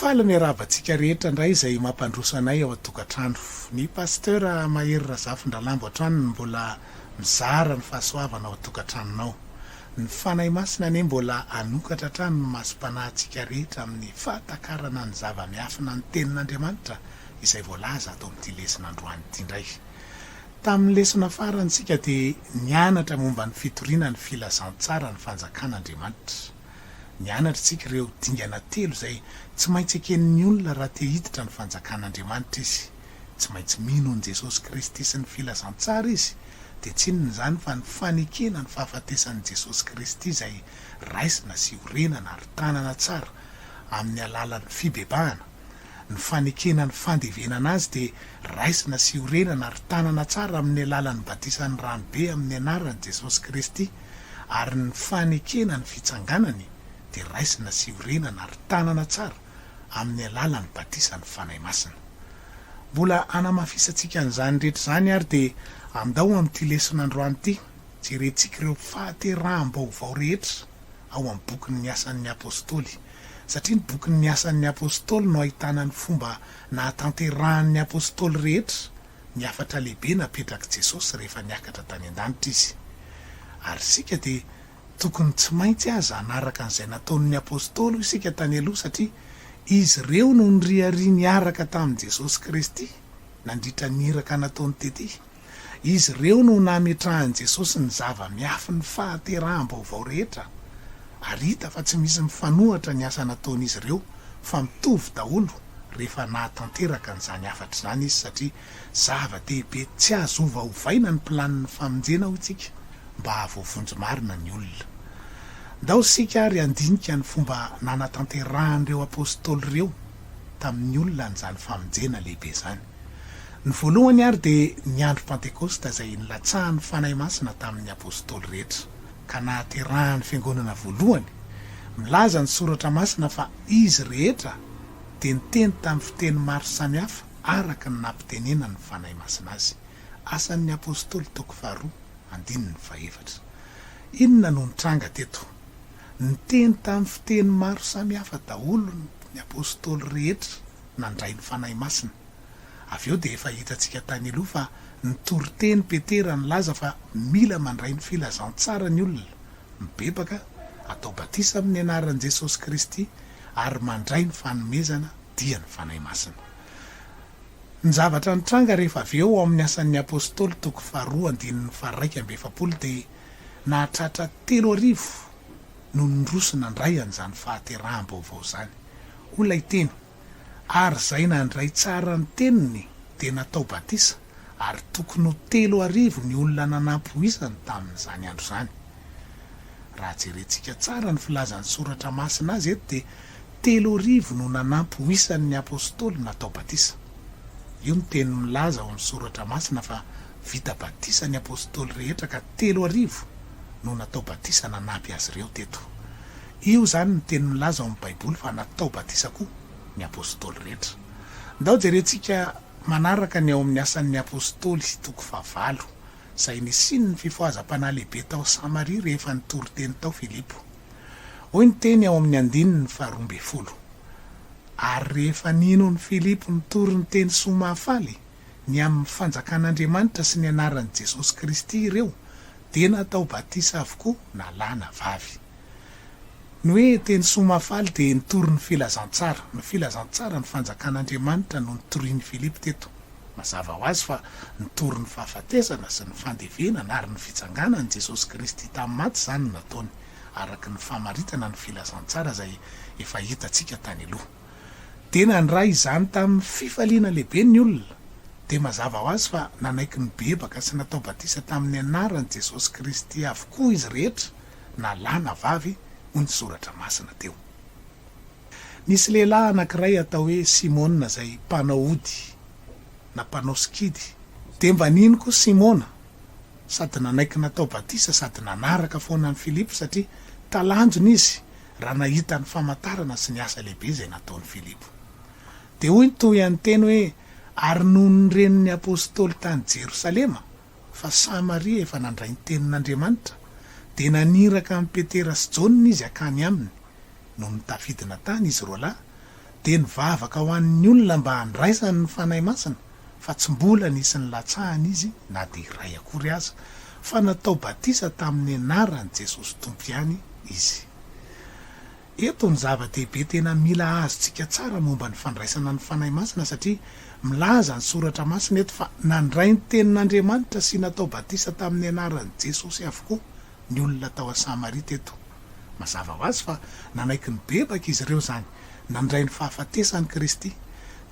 Faly miarahaba antsika rehetra indray izay mampandroso anay ao an-tokantrano. Ny Pasteur Mahery Razafindralambo hatrany no mbola mizara ny fahasoavana ao an-tokantranonao. Ny Fanahy Masina anie mbola hanokatra hatrany ny masom-panahintsika rehetra amin'ny fahatakarana ny zava-miafina ny Tenin'Andriamanitra izay voalaza ato amin'ity lesona androany ity indray. Tamin'ny lesona farany isika dia nianatra momba ny fitoriana ny filazantsaran'ny fanjakan'Andriamanitra. Nianatra isika ireo dingana telo izay tsy maintsy eken'ny olona raha te hiditra ny fanjakan'Andriamanitra izy. Tsy maintsy mino an'i Jesosy Kristy sy ny filazantsara izy, dia tsy inona izany fa ny fanekena ny fahafatesan'i Jesosy Kristy izay raisina sy orenana ary tanana tsara amin'ny alalan'ny fibebahana, ny fanekena ny fandevenana azy dia raisina sy orenana ary tanana tsara amin'ny alalan'ny batisan'ny rano be amin'ny anaran'i Jesosy Kristy, ary ny fanekena ny fitsanganany dia raisina sy orenana ary tanana tsara amin'ny alalan'ny batisan'ny Fanahy Masina. Mbola hanamafisantsika an'izany rehetra izany ary dia andao amin'ity lesona androany ity, jerentsika ireo fahateraham-baovao rehetra ao amin'ny bokin'ny Asan'ny Apostoly. satria ny bokin' ny Asan' ny Apôstôly no ahitana ny fomba nahatanterahan' ny Apôstôly rehetra ny hafatra lehibe napetrak' i Jesosy rehefa niakatra tany an-danitra Izy. Ary isika dia tokony tsy maintsy aza hanaraka an'izay nataon' ny Apôstôly hoy isika tany aloha satria izy ireo no niriaria niaraka tamin'i Jesosy Kristy nandritra ny iraka nataony tety Izy ireo no nametrahan'i Jesosy ny zava-miafin'ny fahateraham-baovao rehetra, ary hita fa tsy misy mifanohatra ny asa nataon'izy ireo fa mitovy daholo rehefa nahatanteraka an'izany hafatra izany izy satria zava-dehibe tsy azo ovaovaina ny planin'ny famonjena hoy isika mba hahavoavonjy marina ny olona. Ndao isika ary handinika ny fomba nanatanterahan'ireo apostoly ireo tamin'ny olona an'izany famonjena lehibe izany. Ny voalohany àry dia ny andro Pantekosta izay nilatsahan'ny fanahy masina tamin'ny apostoly rehetra, ka nahaterahan'ny fiangonana voalohany. Milaza ny Soratra Masina fa izy rehetra dia niteny tamin'ny fiteny maro samihafa araka ny nampitenenan'ny fanahy masina azy. Asan'ny Apostoly toko faharoa, andininy fahefatra. Inona no nitranga teto? Niteny tamin'ny fiteny maro samihafa daholo ny apostoly rehetra. nandray ny Fanahy Masina. Avy eo dia efa hitantsika tany aloha fa nitory teny Petera nilaza fa mila mandray ny filazantsara ny olona, mibebaka, atao batisa amin'ny anaran'i Jesosy Kristy ary mandray ny fanomezana dia ny Fanahy Masina. Ny zavatra nitranga rehefa avy eo ao amin'ny Asan'ny Apostoly toko faharoa andininy faharaika amby efapolo dia nahatratra telo arivo no niroso nandray an'izany fahateraham-baovao izany. Hoy ilay teny, Ary izay nandray tsara ny teniny dia natao batisa, ary tokony ho telo arivo ny olona nanampy ho isany tamin'izany andro izany. Raha jerentsika tsara ny filazan'ny Soratra Masina azy eto dia. Telo arivo no nanampy ho isan' ny apôstôly natao batisa. Io no teny milaza ao amin' ny Soratra Masina fa vita batisa ny apôstôly rehetra ka telo arivo no natao batisa nanampy azy ireo teto. Io izany no teny milaza ao amin' ny Baiboly fa natao batisa koa ny apôstôly rehetra. Ndao jerentsika manaraka ny ao amin' ny Asan' ny Apôstôly, toko fahavalo, izay nisian' ny fifohazam-panahy lehibe tao Samaria rehefa nitory teny tao Filipo. Hoy ny teny ao amin'ny andininy faharoa ambin'ny folo, Ary rehefa ninon' Filipo nitory ny teny soa mahafaly ny amin'ny fanjakan' Andriamanitra sy ny anaran'i Jesosy Kristy ireo, dia natao batisa avokoa na lahy na vavy. Ny hoe teny soa mahafaly dia nitory ny filazantsara. Ny filazantsara ny fanjakan' Andriamanitra no notorian'i Filipo teto. Mazava ho azy fa nitory ny fahafatesana sy ny fandevenana ary ny fitsanganan'i Jesosy Kristy tamin'ny maty izany no nataony, araka ny famaritana ny filazantsara izay efa hitantsika tany aloha. Dia nandray izany tamin'ny fifaliana lehibe ny olona. Dia mazava ho azy fa nanaiky nibebaka sy natao batisa tamin'ny anaran'i Jesosy Kristy avokoa izy rehetra na lahy na vavy, hoy ny Soratra Masina teo. Nisy lehilahy anankiray atao hoe Simona izay mpanao ody na mpanao sikidy. Dia mba nino koa Simona sady nanaiky natao batisa sady nanaraka foana an'i Filipo satria talanjona izy raha nahita ny famantarana sy ny asa lehibe izay nataon'i Filipo. Dia hoy ny tohian'ny teny hoe ary nony ny renin'ny apostoly tany Jerosalema Fa sahy Maria efa nandray ny tenin'Andriamanitra, dia naniraka an'i Petera sy Jaona izy hakany aminy. Nony tafidina tany izy roa lahy, dia nivavaka ho an'ny olona mba handraisany ny Fanahy Masina, fa tsy mbola nisy nilatsahany izy na dia iray akory aza, fa natao batisa tamin'ny anaran'i Jesosy Tompo ihany izy. Eto ny zava-dehibe tena mila azontsika tsara momba ny fandraisana ny Fanahy Masina satria milaza ny Soratra Masina eto fa nandray ny tenin'Andriamanitra sy natao batisa tamin'ny anaran'i Jesosy avokoa ny olona tao an'i Samaria teto. Mazava ho azy fa nanaiky nibebaka izy ireo izany, nandray ny fahafatesan'i Kristy,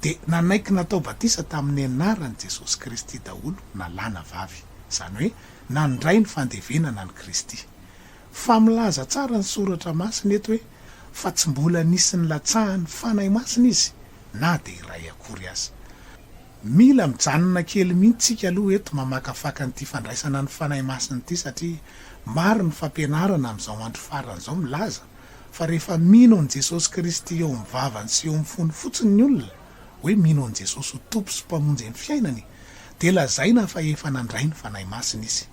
dia nanaiky natao batisa tamin'ny anaran'i Jesosy Kristy daholo na lahy na vavy, izany hoe nandray ny fandevenana an'i Kristy. Fa milaza tsara ny Soratra Masina eto hoe fa tsy mbola nisy nilatsahan'ny Fanahy Masina izy na dia iray akory aza. Mila mijanona kely mihitsy tsika aloha eto mamakafaka an'ity fandraisana ny Fanahy Masina ity satria maro ny fampianarana amin'izao andro farany izao milaza fa rehefa mino an'i Jesosy Kristy eo amin'ny vavany sy eo amin'ny fony fotsiny ny olona hoe mino an'i Jesosy ho Tompo sy Mpamonjy ny fiainany dia lazaina fa efa nandray ny Fanahy Masina izy.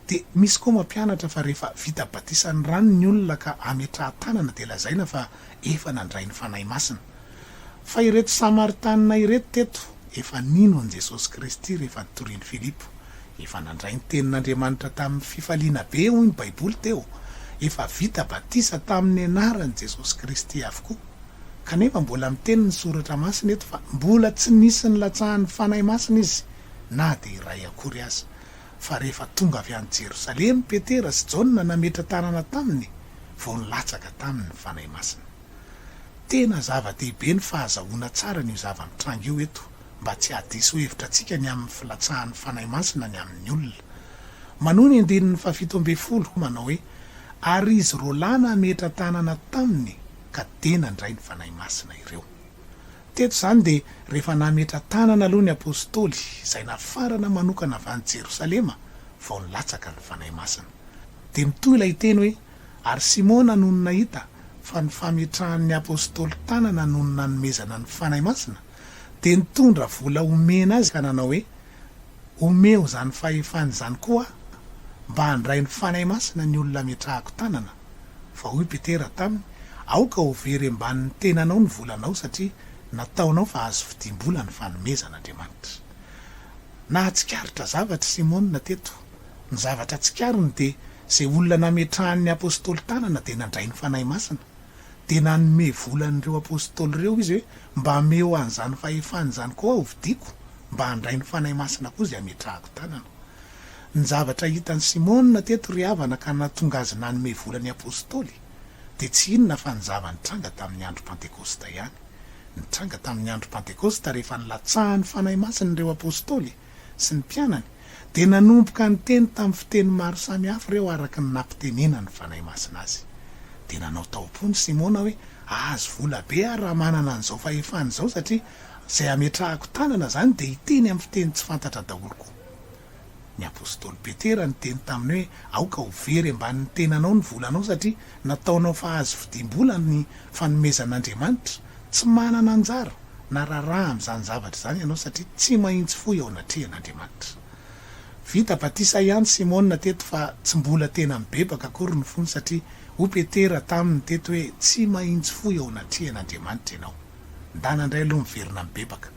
Dia misy koa mampianatra fa rehefa vita batisan'ny rano ny olona ka ametrahan-tanana dia lazaina fa efa nandray ny Fanahy Masina. Fa ireto Samaritanina ireto teto efa nino an'i Jesosy Kristy rehefa nitorian'i Filipo. Efa nandray ny tenin'Andriamanitra tamin'ny fifaliana be hoy ny Baiboly teo. Efa vita batisa tamin'ny anaran'i Jesosy Kristy avokoa. Kanefa mbola miteny ny Soratra Masina eto fa mbola tsy nisy nilatsahan'ny Fanahy Masina izy na dia iray akory aza. fa rehefa tonga avy any Jerosalema i Petera sy Jaona nametra-tanana taminy vao nilatsaka taminy ny Fanahy Masina. Tena zava-dehibe ny fahazahoana tsara an'io zava-mitranga io eto mba tsy hahadiso hevitra antsika ny amin'ny filatsahan'ny Fanahy Masina ny amin'ny olona. Manohy ny andininy fahafito ambin'ny folo manao hoe, Ary izy roalahy nametra-tanana taminy ka dia nandray ny Fanahy Masina ireo. Teto izany dia rehefa nametra-tanana aloha ny Apostoly izay nafarana manokana avy any Jerosalema vao nilatsaka ny Fanahy Masina. Dia mitohy ilay teny hoe, Ary Simona nony nahita fa ny fametrahan'ny Apostoly tanana nony nanomezana ny Fanahy Masina, dia nitondra vola omena azy ka nanao hoe, Omeo izany fahefana izany koa mba handray ny Fanahy Masina ny olona ametrahako tanana, fa hoy Petera taminy, Aoka ho very ambanin'ny tenanao ny volanao, satria nataonao fa azo vidiam-bola ny fanomezan'Andriamanitra. Nahatsikaritra zavatra i Simona teto. Ny zavatra tsikariny dia izay olona nametrahan'ny apostoly tanana dia nandray ny Fanahy Masina. dia nanome vola an'ireo Apostoly ireo Izy hoe, Mba ameo an'izany fahefana izany koa hovidiako, mba handray ny Fanahy Masina koa izay hametrahako tanana. Ny zavatra hitan'i Simona teto ry havana ka nahatonga azy nanome vola ny Apostoly dia tsy inona fa ny zava-nitranga tamin'ny Andro Pantekosta ihany. Nitranga tamin'ny Andro Pantekosta rehefa nilatsahan'ny Fanahy Masina ireo Apostoly. sy ny mpianany dia nanomboka niteny tamin'ny fiteny maro samihafa ireo araka ny nampitenenan'ny Fanahy Masina azy. Dia nanao taom-po ny Simona hoe, Hahazo vola be aho raha manana an'izao fahefana izao satria izay hametrahako tanana izany dia hiteny amin'ny fiteny tsy fantatra daholo koa. Ny apostoly Petera niteny taminy hoe, Aoka ho very ambanin'ny tenanao ny volanao satria nataonao fahazo vidim-bola ny fanomezan'Andriamanitra tsy manana anjara. na raharaha amin'izany zavatra izany ianao satria tsy mahintsy foy eo anatrehan'Andriamanitra. Vita batisa ihany Simona teto fa tsy mbola tena mibebaka akory ny fony satria hoy Petera taminy teto hoe tsy mahintsy foy eo anatrehan'Andriamanitra ianao. Ndana ndray aloha miverina mibebaka.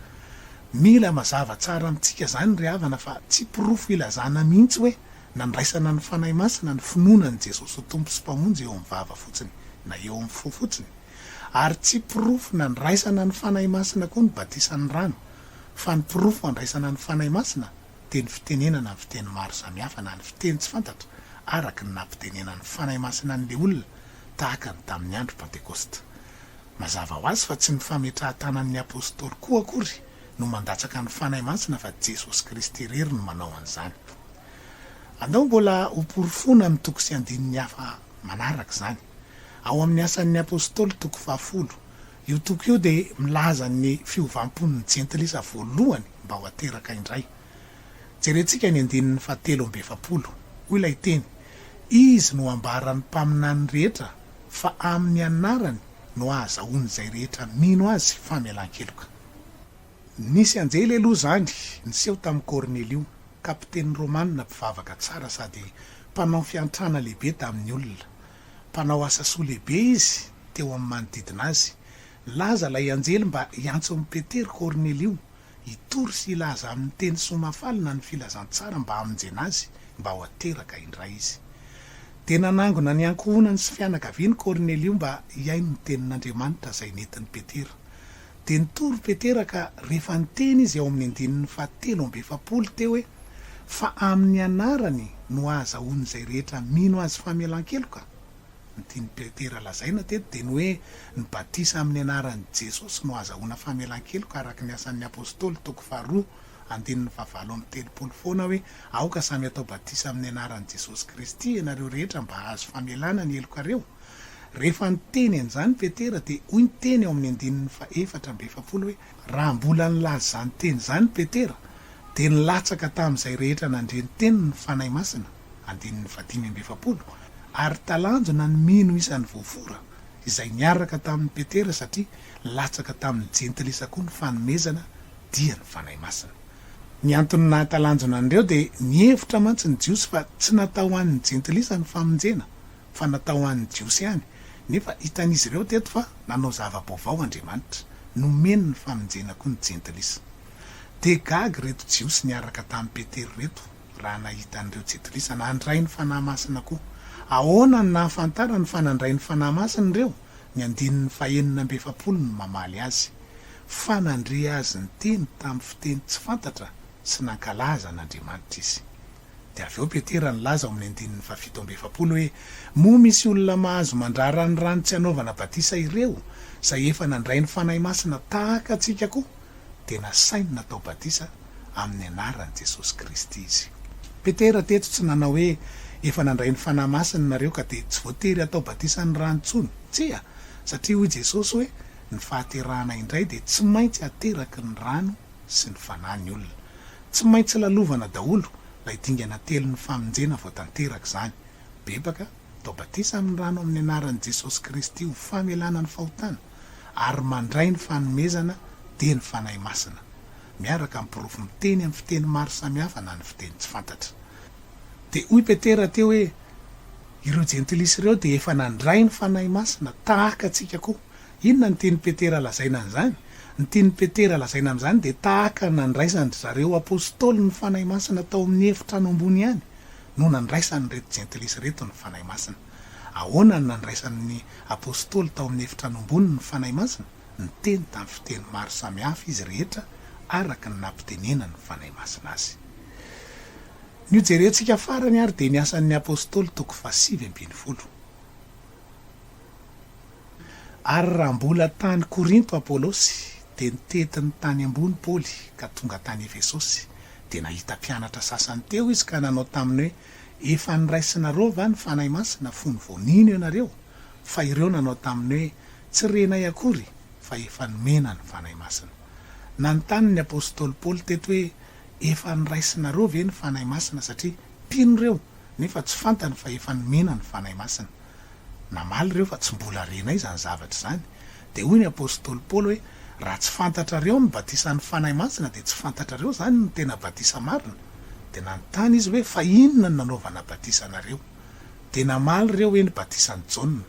Mila mazava tsara amintsika izany ry havana fa tsy porofo ilazana mihintsy hoe nandraisana ny Fanahy Masina ny finoana an'i Jesosy ho Tompo sy Mpamonjy eo amin'ny vava fotsiny na eo amin'ny fo fotsiny. Ary tsy porofo nandraisana ny Fanahy Masina koa ny batisan'ny rano, fa ny porofo andraisana ny Fanahy Masina dia ny fitenenana ny fiteny maro samihafa na ny fiteny tsy fantatra araka ny nampitenenan'ny Fanahy Masina an'ilay olona tahaka ny tamin'ny andro Pantekosta. Mazava ho azy fa tsy ny fametrahan-tanan'ny Apostoly koa akory no mandatsaka ny Fanahy Masina fa Jesosy Kristy irery no manao an'izany. Andao mbola ho porofoina amin'ny toko sy andininy hafa manaraka izany. Ao amin'ny Asan'ny Apostoly, toko fahafolo, io toko io dia milaza ny fiovam-pon'ny Jentilisa voalohany mba ho ateraka indray. Jerentsika ny andininy fahatelo amby efapolo. Hoy ilay teny, Izy no ambaran'ny mpaminany rehetra fa amin'ny anarany no ahazahoan'izay rehetra mino azy famelan-keloka. Nisy anjely aloha izany niseho tamin'i Kornelio, kapiteny romanina mpivavaka tsara sady mpanao fiantrana lehibe tamin'ny olona. Mpanao asa soa lehibe izy teo amin'ny manodidina azy. Nilaza ilay anjely mba hiantson'i Petera Kornelio hitory sy hilaza amin'ny teny soa mafalina ny filazantsara mba hamonjena azy mba ho ateraka indray izy. Dia nanangona ny ankohonany sy fianakaviany Kornelio mba hihaino ny tenin'Andriamanitra izay nentin'i Petera. Dia nitory Petera ka rehefa niteny izy ao amin'ny andininy fahatelo amby efapolo teo hoe, Fa amin'ny anarany no hahazahoan'izay rehetra mino azy famelan-keloka. Ny tian'i Petera lazaina teto dia ny hoe ny batisa amin'ny anaran'i Jesosy no hahazahoana famelan-keloka araka ny Asan'ny Apostoly toko faharoa andininy fahavalo amby telopolo foana hoe, Aoka samy hatao batisa amin'ny anaran'i Jesosy Kristy ianareo rehetra mba hahazo famelana ny helokareo. Rehefa niteny an'izany Petera dia hoy ny teny ao amin'ny andininy fahefatra amby efapolo hoe, Raha mbola nilaza izany teny izany Petera dia nilatsaka tamin'izay rehetra nandre ny teniny ny Fanahy Masina, andininy fahadimy amby efapolo, ary talanjona ny mino isan'ny voafora izay niaraka tamin'i Petera satria latsaka tamin'ny jentilisa koa ny fanomezana dia ny Fanahy Masina. Ny antony nahatalanjona an'ireo dia nihevitra mantsy ny Jiosy fa tsy natao ho an'ny jentilisa ny famonjena fa natao ho an'ny Jiosy ihany, nefa hitan'izy ireo teto fa nanao zava-baovao Andriamanitra, nomeny ny famonjena koa ny Jentilisa. Dia gaga ireto Jiosy niaraka tamin'i Petera ireto raha nahita an'ireo Jentilisa nandray ny Fanahy Masina koa. Ahoana no nahafantarany fa nandray ny Fanahy Masina ireo? Ny andininy fahenina amby efapolo no mamaly azy, Fa nandre azy niteny tamin'ny fiteny tsy fantatra sy nankalaza an'Andriamanitra izy. Dia avy eo Petera nilaza ao amin'ny andininy fahafito amby efapolo hoe, Moa misy olona mahazo mandrara ny rano tsy hanaovana batisa ireo, izay efa nandray ny Fanahy Masina tahaka antsika koa? Dia nasainy natao batisa amin'ny anaran'i Jesosy Kristy izy. Petera teto tsy nanao hoe, Efa nandray ny Fanahy Masina nareo ka dia tsy voatery hatao batisa ny rano intsony. Tsia, satria hoy Jesosy hoe, Ny fahaterahana indray dia tsy maintsy ateraky ny rano. sy ny fanahy ny olona. Tsy maintsy lalovana daholo lay dingana telo ny famonjena vao tanteraka izany. Bebaka, atao batisa amin'ny rano amin'ny anaran'i Jesosy Kristy ho famelana ny fahotana, ary mandray ny fanomezana dia ny Fanahy Masina, miaraka amin'ny porofo miteny amin'ny fiteny maro samihafa na ny fiteny tsy fantatra. Dia hoy Petera teo hoe, Ireo Jentilisa ireo dia efa nandray ny Fanahy Masina, tahaka antsika koa. Inona no tian'i Petera lazaina an'izany? Ny tian'i Petera lazaina amin'izany dia tahaka ny nandraisan-dry zareo apostoly ny Fanahy Masina tao amin'ny efitrano ambony ihany no nandraisan'ireto jentilisa ireto ny Fanahy Masina. Ahoana no nandraisan'ny apostoly tao amin'ny efitrano ambony ny Fanahy Masina? Niteny tamin'ny fiteny maro samihafa izy rehetra araka ny nampitenenan'ny Fanahy Masina azy. Ny hojerentsika farany ary dia ny Asan'ny Apostoly toko fahasivy ambin'ny folo. Ary raha mbola tany Korinto Apolosy, dia nitety ny tany ambony Paoly, ka tonga tany Efesosy. Dia nahita mpianatra sasany teo izy ka nanao taminy hoe, Efa noraisinareo va ny Fanahy Masina fony vao nino ianareo? Fa ireo nanao taminy hoe, Tsy renay akory, fa efa nomena ny Fanahy Masina. Nanontany ny apostoly Paoly teto hoe, Efa noraisinareo ve ny Fanahy Masina, satria mpino ireo, nefa tsy fantany fa efa nomena ny Fanahy Masina? Namaly ireo fa tsy mbola renay izany zavatra izany. Dia hoy ny apostoly Paoly hoe, Raha tsy fantatrareo ny batisan'ny Fanahy Masina, dia tsy fantatrareo izany ny tena batisa marina. Dia nanontany izy hoe, Fa inona no nanaovana batisa anareo? Dia namaly ireo hoe, Ny batisan'i Jaona.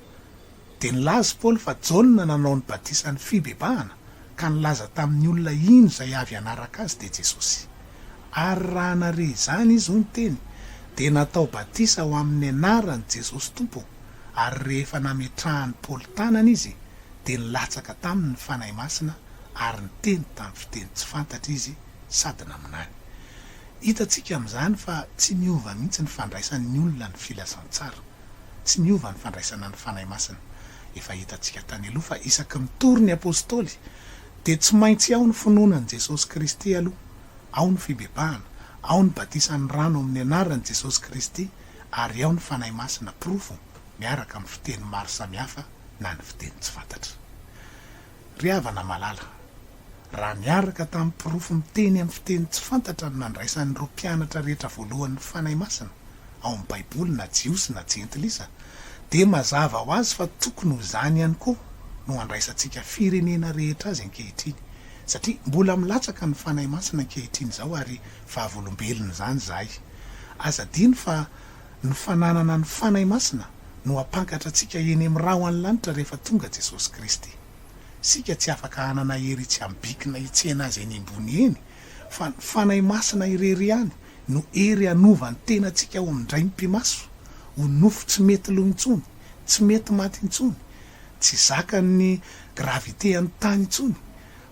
Dia nilaza i Paoly fa Jaona nanao ny batisan'ny fibebahana. Ka nilaza tamin'ny olona iny izay avy hanaraka Azy dia Jesosy. Ary raha nare izany izy, hoy ny teny, dia natao batisa ho amin'ny anaran'i Jesosy Tompo, ary rehefa nametrahan'i Paoly tanana izy, dia nilatsaka taminy ny Fanahy Masina ary niteny tamin'ny fiteny tsy fantatra izy sady naminany. Hitantsika amin'izany fa tsy miova mihitsy ny fandraisan'ny olona ny filazantsara. Tsy miova ny fandraisana ny Fanahy Masina. Efa hitantsika tany aloha fa isaky ny tory ny Apostoly dia tsy maintsy ao ny finoana an'i Jesosy Kristy aloha, ao ny fibebahana, ao ny batisan'ny rano amin'ny anaran'i Jesosy Kristy ary ao ny Fanahy Masina porofo miaraka amin'ny fiteny maro samihafa na ny fiteny tsy fantatra. Ry havana malala, raha niaraka tamin'ny porofo miteny amin'ny fiteny tsy fantatra no nandraisan'ireo mpianatra rehetra voalohany ny Fanahy Masina ao amin'ny Baiboly na Jiosy na Jentilisa, dia mazava ho azy fa tokony ho izany ihany koa no andraisantsika firenena rehetra azy ankehitriny, satria mbola milatsaka ny Fanahy Masina ankehitriny izao ary vavolombelona izany izahay. Aza adino fa. ny fananana ny Fanahy Masina no hampankatra antsika eny amin'ny ra ho any lanitra rehefa tonga Jesosy Kristy. Isika tsy afaka hanana hery tsy habikina hitsena Azy eny ambony eny, fa ny Fanahy Masina irery ihany no hery hanova ny tenantsika ho mindray ny pimaso, ho nofo tsy mety lo intsony, tsy mety maty intsony, tsy zakan'ny gravitean'ny tany intsony,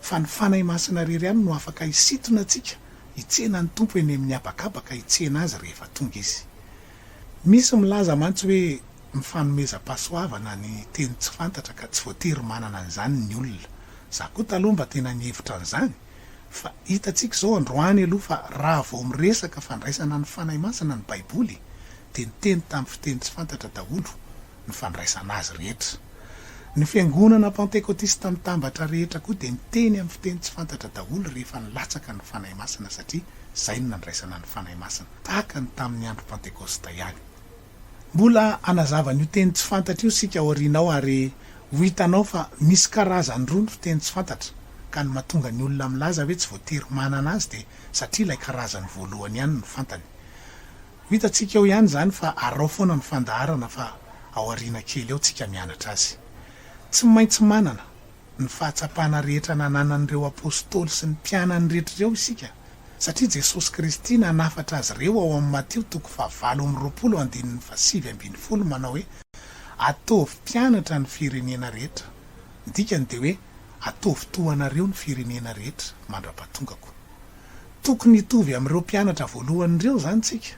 fa ny Fanahy Masina irery ihany no afaka hisintona antsika, Hitsena ny Tompo eny amin'ny habakabaka hitsena Azy rehefa tonga Izy. Misy milaza mantsy hoe mifanomezam-pahasoavana ny teny tsy fantatra ka tsy voatery manana an'izany ny olona. Za koa taloha mba tena nihevitra an'izany fa hitantsika izao androany aloha fa raha vao miresaka fandraisana ny Fanahy Masina ny Baiboly dia niteny tamin'ny fiteny tsy fantatra daholo. ny fandraisana azy rehetra. Ny fiangonana pantekotista mitambatra rehetra koa dia miteny amin'ny fiteny tsy fantatra daholo rehefa nilatsaka ny Fanahy Masina satria izay no nandraisana ny Fanahy Masina, tahaka ny tamin'ny andro Pantekosta ihany. Mbola hanazava an'io teny tsy fantatra io isika aoriana ao ary ho hitanao fa misy karazany roa ny fiteny tsy fantatra ka ny mahatonga ny olona milaza hoe tsy voatery manana azy dia satria ilay karazany voalohany ihany no fantany. Ho hitantsika eo ihany izany fa arao foana ny fandaharana fa ao aoriana kely eo tsika mianatra azy. Tsy maintsy manana ny fahatsapana rehetra nananan'ireo Apostoly sy ny mpianany rehetra ireo isika satria Jesosy Kristy nanafatra azy ireo ao amin'ny Matio toko fahavalo amby roapolo andininy fahasivy ambin'ny folo manao hoe ataovy mpianatra ny firenena rehetra ny dikany dia hoe ataovy toa anareo ny firenena rehetra mandra-pahatongako Tokony hitovy amin'ireo mpianatra voalohany ireo izany isika.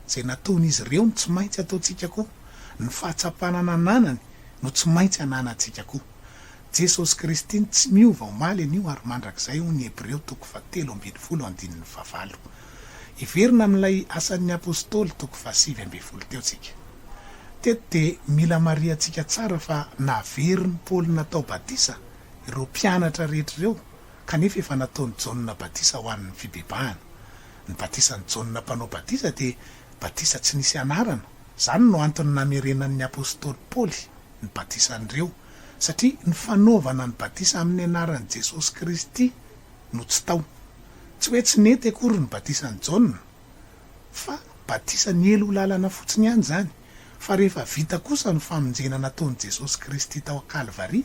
Izay nataon'izy ireo no tsy maintsy ataontsika koa. Ny fahatsapana nananany no tsy maintsy ananantsika koa. Jesosy Kristy no tsy miova omaly, anio ary mandrakizay hoy ny Hebreo toko fahatelo ambin'ny folo andininy fahavalo. Hiverina amin'ilay asan'ny Apostoly toko fahasivy ambin'ny folo teo isika. Teto dia mila marihantsika tsara fa naveriny Paoly natao batisa ireo mpianatra rehetra ireo Kanefa efa nataon'i Jaona batisa ho an'ny fibebahana. Ny batisan'i Jaona mpanao batisa dia batisa tsy nisy anarana. Izany no antony namerenan'ny apostoly Paoly ny batisan'ireo, satria ny fanaovana ny batisa amin'ny anaran'i Jesosy Kristy no tsy tao. Tsy hoe tsy nety akory ny batisan'i Jaona. fa batisa niely ho lalana fotsiny ihany izany, fa rehefa vita kosa ny famonjena nataon'i Jesosy Kristy tao an-Kalvary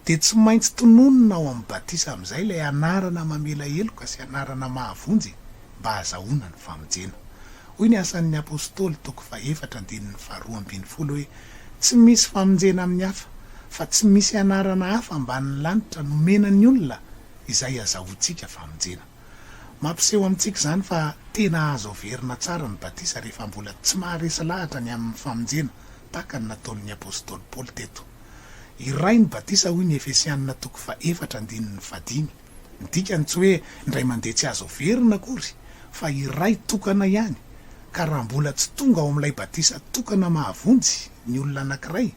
dia tsy maintsy tononina ao amin'ny batisa amin'izay ilay anarana mamela heloka sy anarana mahavonjy mba hahazahoana ny famonjena. Hoy ny Asan'ny Apostoly toko fahefatra andininy faharoa ambin'ny folo hoe, Tsy misy famonjena amin'ny hafa, fa tsy misy anarana hafa ambanin'ny lanitra nomena ny olona izay azahoantsika famonjena. Mampiseho amintsika izany fa tena azo averina tsara ny batisa rehefa mbola tsy maharesy lahatra ny amin'ny famonjena, tahaka ny nataon'ny apostoly Paoly teto. Iray ny batisa hoy ny Efesianina toko fahefatra andininy fahadimy. Ny dikany tsy hoe indray mandeha tsy azo averina akory, fa iray tokana ihany, ka raha mbola tsy tonga ao amin'ilay batisa tokana mahavonjy ny olona anankiray,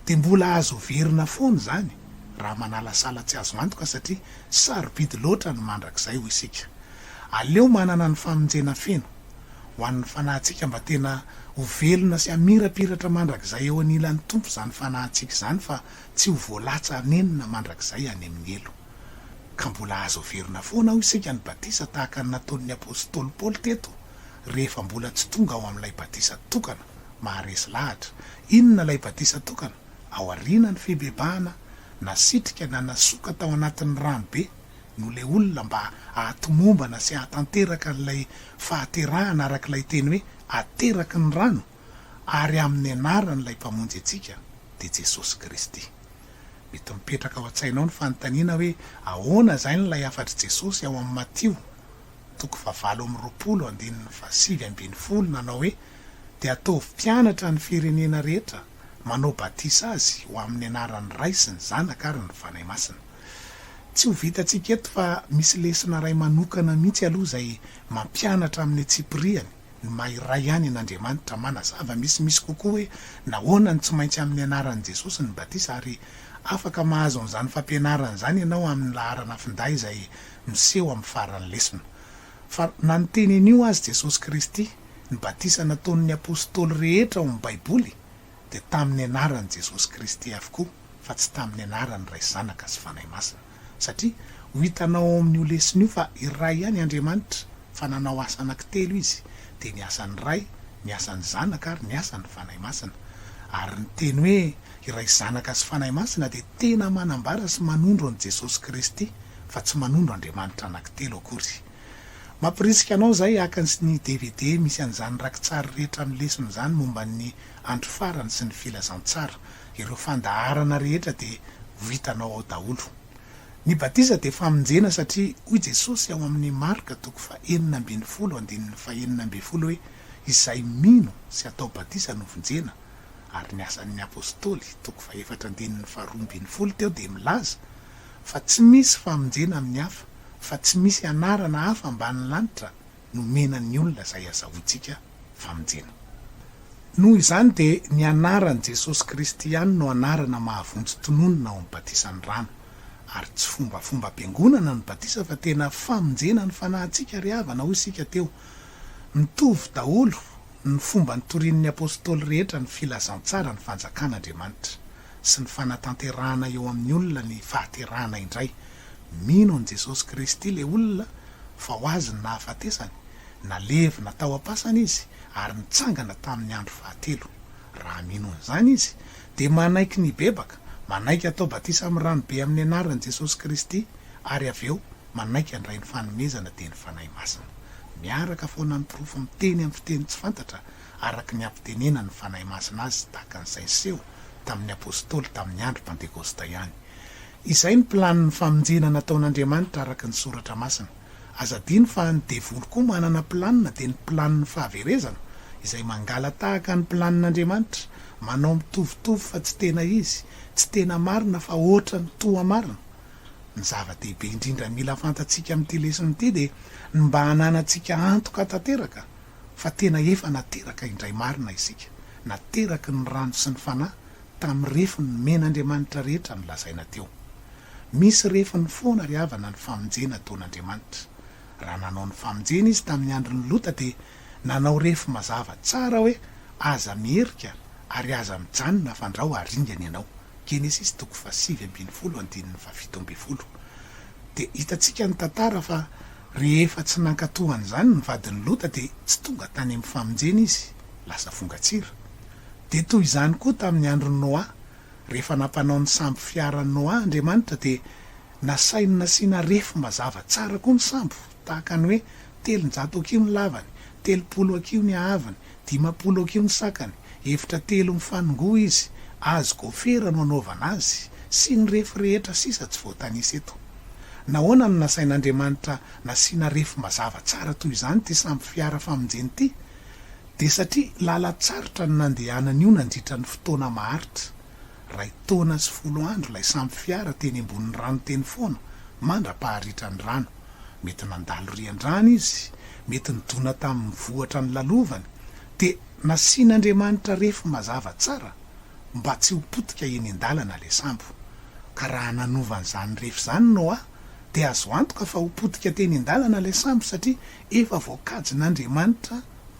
dia mbola azo heverina foana izany raha manalasala tsy azo antoka satria sarobidy loatra ny mandrakizay hoy isika. Aleo manana ny famonjena feno ho an'ny fanahintsika mba tena ho velona sy hamirapiratra mandrakizay eo anilan'ny Tompo izany fanahintsika izany fa tsy ho voalatsa hanenina mandrakizay any amin'ny helo. Ka mbola azo heverina foana hoy isika ny batisa tahaka ny nataon'ny apostoly Paoly teto rehefa mbola tsy tonga ao amin'ilay batisa tokana. maharesy lahatra. Inona ilay batisa tokana? Aoriana ny fibebahana, nasitrika na nasoka tao anatin'ny rano be no ilay olona mba hahatomombana sy hahatanteraka an'ilay fahaterahana araka ilay teny hoe ateraky ny rano ary amin'ny anaran'ilay Mpamonjy antsika, dia Jesosy Kristy. Mety mipetraka ao an-tsainao ny fanontaniana hoe ahoana izany ilay hafatr'i Jesosy ao amin'ny Matio toko fahavalo amby roapolo andininy fahasivy ambin'ny folo nanao hoe, Dia ataovy mpianatra ny firenena rehetra, manao batisa azy ho amin'ny anaran'ny Ray sy ny Zanaka ary ny Fanahy Masina. Tsy ho vitantsika eto fa misy lesona iray manokana mihitsy aloha izay mampianatra amin'ny antsipiriany ny maha iray ihany an'Andriamanitra, manazava misimisy kokoa hoe nahoana no tsy maintsy amin'ny anaran'i Jesosy ny batisa ary afaka mahazo an'izany fampianarana izany ianao amin'ny laharana finday izay miseho amin'ny faran'ny lesona. Fa na ny teny anio azy Jesosy Kristy, ny batisa nataon'ny Apostoly rehetra ao amin'ny Baiboly dia tamin'ny anaran'i Jesosy Kristy avokoa fa tsy tamin'ny anaran'ny Ray Zanaka sy Fanahy Masina. Satria ho hitanao ao amin'io lesona io fa iray ihany Andriamanitra. fa nanao asa anankitelo izy, dia ny asan'ny Ray, ny asan'ny Zanaka ary ny asan'ny Fanahy Masina. Ary ny teny hoe iray Zanaka sy Fanahy Masina dia tena manambara sy manondro an'i Jesosy Kristy fa tsy manondro Andriamanitra anankitelo akory. Mampirisika anao izay haka ny dvd misy an'izany rakitsary rehetra amin'ny lesona izany momba ny andro farany sy ny filazantsara. Ireo fandaharana rehetra dia ho hitanao ao daholo. Ny batisa dia famonjena satria hoy Jesosy ao amin'ny Marka toko fahenina ambin'ny folo andininy fahenina ambin'ny folo hoe izay mino sy atao batisa no vonjena ary ny Asan'ny Apostoly toko fahefatra andininy faharoa ambin'ny folo teo dia milaza fa tsy misy famonjena amin'ny hafa fa tsy misy anarana hafa ambanin'ny lanitra nomena ny olona izay azahoantsika famonjena. Noho izany dia ny anaran'i Jesosy Kristy ihany no anarana mahavonjy tononina ao amin'ny batisan'ny rano. Ary tsy fombafombam-piangonana ny batisa fa tena famonjena ny fanahintsika ry havana hoy isika teo. Mitovy daholo ny fomba nitorian'ny apostoly rehetra ny filazantsara ny fanjakan'Andriamanitra. sy ny fanatanterahana eo amin'ny olona ny fahaterahana indray. Mino an'i Jesosy Kristy ilay olona fa ho azy ny nahafatesany, nalevina tao am-pasana izy ary nitsangana tamin'ny andro fahatelo. Raha mino an'izany izy, dia manaiky ny hibebaka, manaiky hatao batisa amin'ny ranobe amin'ny anaran'i Jesosy Kristy ary avy eo manaiky handray ny fanomezana dian'ny Fanahy Masina. Miaraka foana amin'ny porofo miteny amin'ny fiteny tsy fantatra araka ny hampitenena ny Fanahy Masina azy tahaka an'izay niseho tamin'ny Apostoly tamin'ny andro Pantekosta ihany. Izay ny planin'ny famonjena nataon'Andriamanitra araka ny Soratra Masina. Aza adino fa ny devoly koa manana planina dia ny planin'ny fahaverezana izay mangalatahaka ny planin'Andriamanitra, manao mitovitovy fa tsy tena izy, tsy tena marina fa ohatran'ny toa marina. Ny zava-dehibe indrindra mila fantatsika amin'ity lesona ity dia ny mba hananantsika antoka tanteraka fa tena efa nateraka indray marina isika, nateraky ny rano sy ny Fanahy tamin'ny refiny nomen'Andriamanitra rehetra nolazaina teo. Misy refiny foana ry havana ny famonjena ataon'Andriamanitra. Raha nanao ny famonjena Izy tamin'ny andron'i Lota dia nanao refy mazava tsara hoe aza miherika ary aza mijanona fandrao haringana ianao. Genesisy toko fahasivy ambin'ny folo andininy fahafito ambin'ny folo. Dia hitantsika ny tantara fa Rehefa tsy nankatò an'izany ny vadin'i Lota dia tsy tonga tany amin'ny famonjena izy, lasa vongan-tsira. Dia toy izany koa tamin'ny andron'i Noa. Rehefa nampanao ny sambo fiaran'i Noa Andriamanitra dia nasainy nasiana refy mazava tsara koa ny sambo, tahaka ny hoe telonjato hakiho ny lavany, telopolo hakiho ny haavony, Dimampolo ok eo ny sakany, efitra telo mifanongoa izy, azy gôfera no anaovana azy, sy ny refy rehetra sisa tsy voatanisa eto. Nahoana no nasain'Andriamanitra nasiana refy mazava tsara toy izany ity sambo fiara famonjena ity? Dia satria lalan-tsarotra no nandehanan'io nandritra ny fotoana maharitra. Ray taona sy folo andro ilay sambo fiara teny ambonin'ny rano teny foana mandra-paharitran'ny rano. Mety nandalo rian-drano izy, mety nidona tamin'ny vohitra nilalovany, dia nasian'Andriamanitra refy mazava tsara mba tsy ho potika eny an-dalana ilay sambo. Ka raha nanova an'izany refy izany Noa, dia azo antoka fa ho potika teny an-dalana ilay sambo satria efa voakajin'Andriamanitra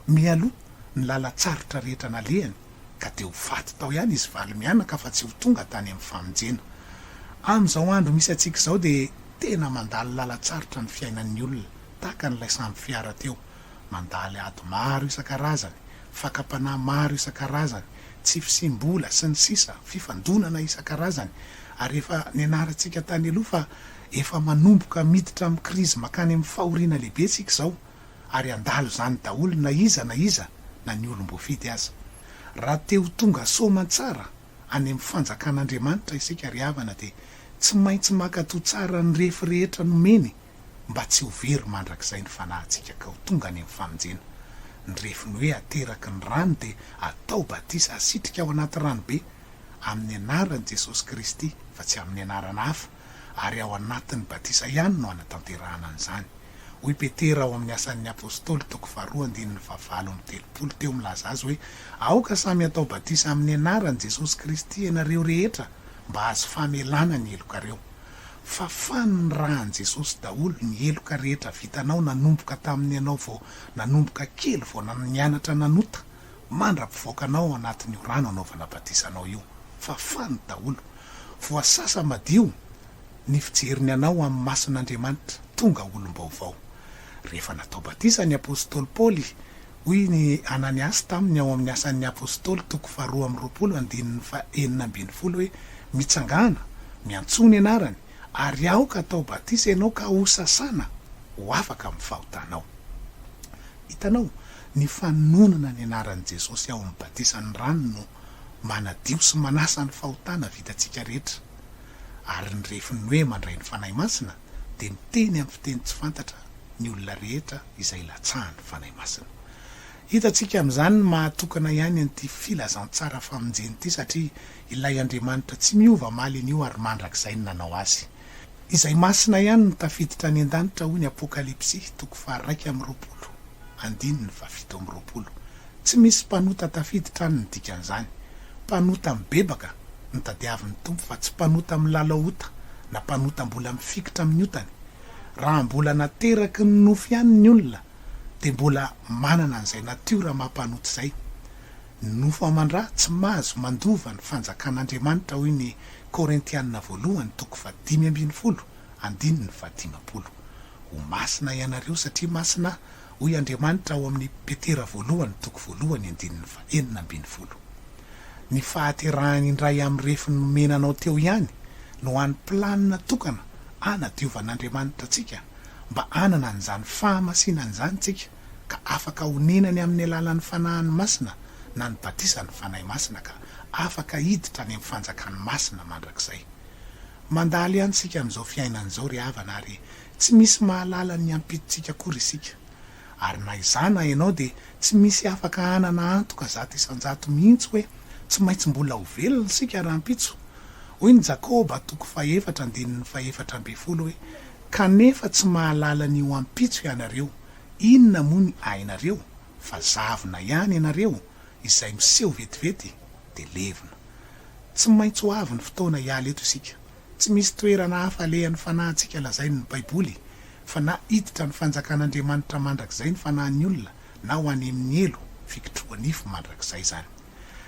mialoha ny lalan-tsarotra rehetra nalehany. ka dia ho faty tao ihany izy valo mianaka fa tsy ho tonga tany amin'ny famonjena. Amin'izao andro misy antsika izao dia tena mandalo lalan-tsarotra ny fiainan'ny olona, tahaka an'ilay sambo fiara teo. Mandalo ady maro isan-karazany, fakam-panahy maro isan-karazany, tsy fisiam-bola, sy ny sisa, fifandonana isan-karazany, ary efa nianarantsika tany aloha fa efa manomboka miditra amin'ny krizy mankany amin'ny fahoriana lehibe isika izao. ary handalo izany daholo na iza na iza na ny olom-boafidy aza. Raha te ho tonga soa aman-tsara any amin'ny fanjakan'Andriamanitra isika ry havana dia tsy maintsy mankatoa tsara ny refy rehetra nomeny mba tsy ho very mandrakizay ny fanahintsika ka ho tonga any amin'ny famonjena. Ny refiny hoe ateraky ny rano dia atao batisa asitrika ao anaty ranobe amin'ny anaran'i Jesosy Kristy fa tsy amin'ny anarana hafa. ary ao anatin'ny batisa ihany no hanatanterahana an'izany. Hoy i Petera ao amin'ny Asan'ny Apostoly toko faharoa andininy fahavalo amby telopolo teo milaza azy hoe, Aoka samy hatao batisa amin'ny anaran'i Jesosy Kristy ianareo rehetra mba hahazo famelana ny helokareo. Fafan' ny ran'i Jesosy daholo ny heloka rehetra vitanao nanomboka tamin'ny ianao vao nanomboka kely vao nianatra nanota mandra-pivoakana ao anatin'io rano anaovana batisa anao io. Fafany daholo. Voasasa madio ny fijeriny anao amin'ny mason'Andriamanitra. Tonga olom-baovao. Rehefa natao batisa ny apostoly Paoly, hoy ny Ananiasy taminy ao amin'ny Asan'ny Apostoly toko faharoa amby roapolo andininy fahenina ambin'ny folo hoe, Mitsangàna, miantsoa ny anarany, ary aoka atao batisa ianao ka hosasana ho afaka amin'ny fahotanao. Hitanao, ny fanononana ny anaran'i Jesosy ao amin'ny batisan'ny rano no manadio sy manasa ny fahotana vitantsika rehetra. Ary ny refin'ny hoe mandray ny Fanahy Masina dia miteny amin'ny fiteny tsy fantatra ny olona rehetra izay latsahan'ny Fanahy Masina. Hitantsika amin'izany ny maha-tokana ihany an'ity filazantsara famonjena ity satria ilay Andriamanitra tsy miova mahalin' io ary mandrakizay no nanao azy. Izay masina ihany no tafiditra any an-danitra hoy ny Apokalypsy toko faharaika amby roapolo, andininy fahafito amby roapolo. Tsy misy mpanota tafiditra any ny dikan'izany. Mpanota mibebaka no tadiavin'ny Tompo fa tsy mpanota milalao ota na mpanota mbola mifikitra amin'ny otany. Raha mbola nateraky ny nofo ihany ny olona dia mbola manana an'izay natiora maha-mpanota izay. Ny nofo aman-dra tsy mahazo mandova ny fanjakan'Andriamanitra hoy ny Korintiana voalohany toko fahadimy ambin'ny folo andininy fahadimampolo. Ho masina ianareo satria masina aho hoy Andriamanitra ao amin'ny Petera voalohany toko voalohany andininy fahenina ambin'ny folo. Ny fahaterahany indray amin'ny refiny nomena anao teo ihany no any planina tokana anadiovan'Andriamanitra antsika mba hanana an'izany fahamasinany izany tsika. ka afaka honenany amin'ny alalan'ny Fanahiny Masina na ny batisan'ny Fanahy Masina ka afaka hiditra any amin'ny fanjakan'ny masina mandrakizay. Mandalo ihany isika amin'izao fiainana izao ry havana ary tsy misy mahalala ny hiampititsika akory isika. Ary na izaho na ianao dia tsy misy afaka hanana antoka zato isan-jato mihitsy hoe tsy maintsy mbola ho velona isika rahampitso. Hoy ny Jakoba toko fahefatra andininy fahefatra ambin'ny folo hoe, Kanefa tsy mahalala ny ho ampitso ianareo. Inona moa ny hainareo fa zavona ihany ianareo izay miseho vetivety dia levona. Tsy maintsy ho avy ny fotoana hiala eto isika. Tsy misy toerana hafa alehan'ny fanahintsika lazain'ny baiboly fa na hiditra ny fanjakan'Andriamanitra mandrakizay ny fanahin'ny olona na ho any amin'ny helo, fikitrohanifo, mandrakizay izany.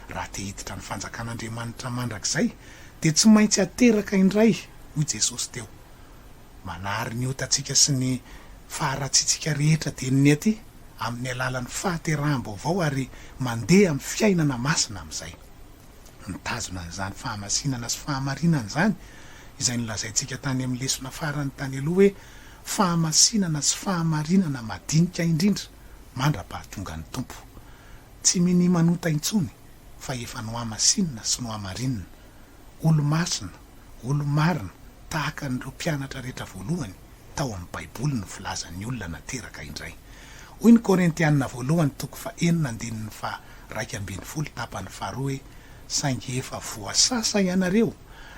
Raha te hiditra ny fanjakan'Andriamanitra mandrakizay dia tsy maintsy ateraka indray hoy Jesosy teo. Manary ny otantsika sy ny faharatsitsika rehetra denony aty amin'ny alalan'ny fahateraham-baovao ary mandeha amin'ny fiainana masina amin'izay. Mitazona an'izany fahamasinana sy fahamarinana izany izay nolazaintsika tany amin'ny lesona farany tany aloha hoe fahamasinana sy fahamarinana madinika indrindra mandra-pahatongan'ny Tompo. Tsy mini-manota intsony fa efa nohamasinina sy nohamarinina. Olo-masina. Olo-marina, tahaka an'ireo mpianatra rehetra voalohany tao amin'ny Baiboly no filazan'ny olona nateraka indray. Hoy ny Korintiana Voalohany toko fahenina andininy faha iraika ambin'ny folo tapany faharoa hoe, Saingy efa voasasa ianareo,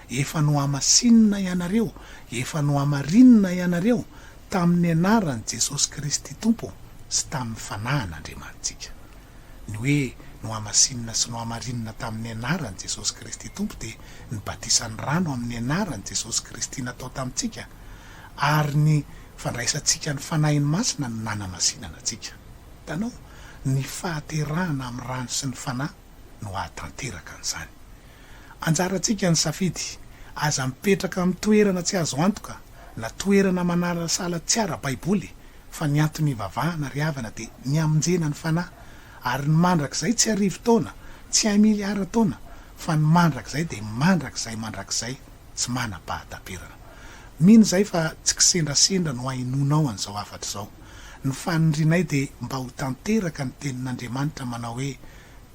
efa nohamasinina ianareo, efa nohamarinina ianareo tamin'ny anaran'i Jesosy Kristy Tompo sy tamin'ny Fanahin'Andriamanitsika. ny hoe nohamasinina sy nohamarinina tamin'ny anaran'i Jesosy Kristy Tompo dia ny batisan'ny rano amin'ny anaran'i Jesosy Kristy natao tamintsika ary ny fandraisantsika ny Fanahiny Masina no nanamasinana antsika. Hitanao, ny fahaterahana amin'ny rano sy ny Fanahy no hahatanteraka an'izany. Anjarantsika ny safidy. Aza mipetraka amin'ny toerana tsy azo antoka na toerana manalasala tsy ara-baiboly, fa ny antony hivavahana ry havana dia ny hamonjena ny fanahy, ary ny mandrakizay tsy arivo taona, tsy hay miliara taona, fa ny mandrakizay dia mandrakizay mandrakizay tsy manam-pahataperana. Mino izay fa tsy kisendrasendra no hainoanao an'izao hafatra izao. Ny fanindrianay dia mba ho tanteraka ny tenin'Andriamanitra manao hoe,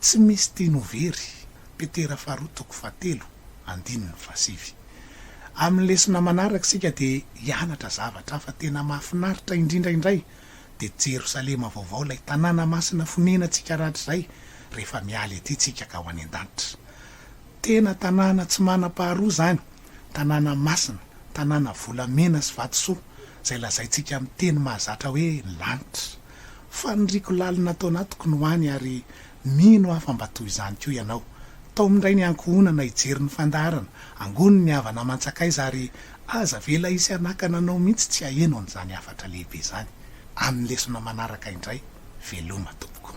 Tsy misy tiany ho very. Petera faharoa toko fahatelo andininy fahasivy. Amin'ny lesona manaraka isika dia hianatra zavatra hafa tena mahafinaritra indrindra indray dia Jerosalema vaovao ilay tanàna masina fonenantsika rahatrizay rehefa miala ety isika ka ho any an-danitra. Tena tanàna tsy manam-paharoa izany, tanàna masina, tanàna volamena sy vatosoa izay lazaintsika amin'ny teny mahazatra hoe lanitra. Faniriako lalina ato anatiko ny ho any ary Mino aho fa mba toy izany koa ianao. Tao amin'indray ny ankohonana hijery ny fandaharana, angony ny havana aman-tsakaiza ary aza avela hisy hanakana anao mihitsy tsy haheno an'izany hafatra lehibe izany. Amin'ny lesona manaraka indray, veloma tompoko.